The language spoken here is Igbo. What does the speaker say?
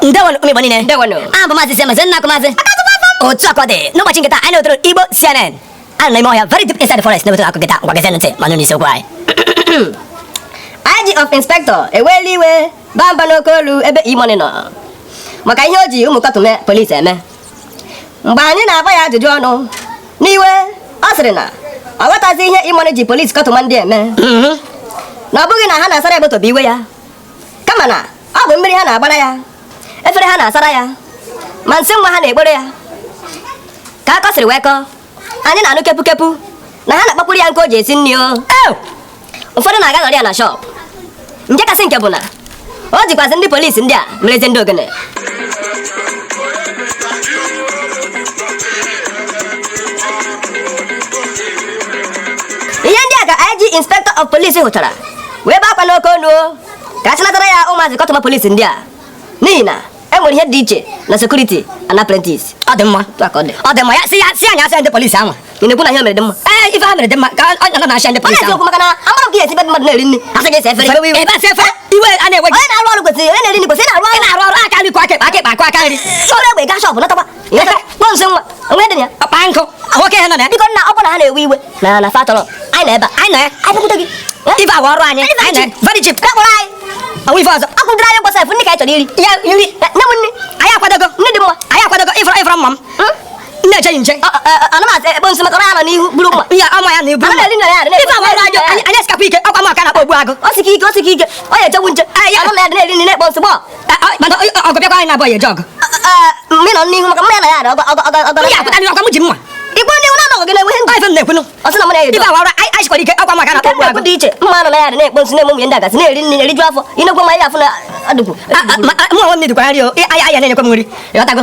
ndewonu ụmụ Igbo niile ndewonu abụ m maazị Siamen sị nna akụ maazị otu akọ dị n'ụbọchị nke taa anyị na-otoro Igbo CNN a nọ n'ime ọhịa very deep inside the forest na-ewetara akọ nke taa ngwa gezienụ ntị ma nụ n'isiokwu anyị IG of Inspector eweela iwe baa mba n'oke olu ebe E-Money nọ maka ihe o ji ụmụ kọtụma polisi eme mgbe anyị na-agba ya ajụjụ ọnụ n'iwe ọ sịrị na ọ ghọtazi ihe E-Money ji polisi kọtụma ndị a eme mhm. na ọ bụghị na ha na-asara ya moto bụ iwe ya kama na ọ bụ mmiri ha na-agbara ya efere ha na-asara ya ma nsị nwa ha na-ekporo ya ka akọ siri wee kọọ anyị na-anụ kepukepu na ha na-akpakwuru ya nkụ o ji esi nri o ụfọdụ na-aga nọrọ ya na shọp nke kasị nke bụ na o jikwazi ndị polisi ndị a merezi ndị ogene ihe ndị a ka IG inspector of police hụchara wee bee akwa n'oke onu ka a chịnatara ya ụmụazị kọtụma polisi ndị a n'ihi na e nwere ihe dị iche na security and apprentice ọ dị mma ọ dị mma ya si ya si anya asị ndị polisi ahụ ị na-ekwu na ihe mere dị mma ee ife ha mere dị mma ka ọ nọ na-achị ndị polisi ahụ maka na amara m ka esi be mmadụ na-eri nri asị gị saa efere ebe asa efere iwe a na-ewe gị onye na-arụ ọrụ kwesịrị onye na-eri nri kwesịrị na-arụ ọrụ na-arụ ọrụ aka nri kwọọ aka aka aka nri soro egbe gaa shọpụ nataba na-eche nche ana m ana-ekpo nsị maka na n'ihu bụrụ mma ya ama ya na-ebu mma ife agwa ọrụ ajọ anyị esikapụ ike ọkwa m ka a na-akpọ ogbu agụ o sike ike o sike ike ọ ya echewu nche anyị ya na-eri nri na-ekpo nsị gbọọ ọgụ bịakwa anyị naabọ eje ọgụ mgbe nọ n'ihu maka mma ya na ya ọgụ ọgụ ọgụ ọgụ ya pụtara ọkwa m ji mma igwe ndị na anọghị gị na-enwe ihe ndị ife m na-ekwunu ọ sị na mụ na-eje ife awara anyị sikwara ike ọkwa m ka a na-akpọ ogbu agụ dị iche mma nọ na ya na-ekpo nsị na-eme ụmụ ndị agazi na-eri nri na-eriju afọ inekwe ma ya afụ na adụgwu mụ onwe m na-edukwa nri o aya aya na-enyekwa m nri ị ghọtago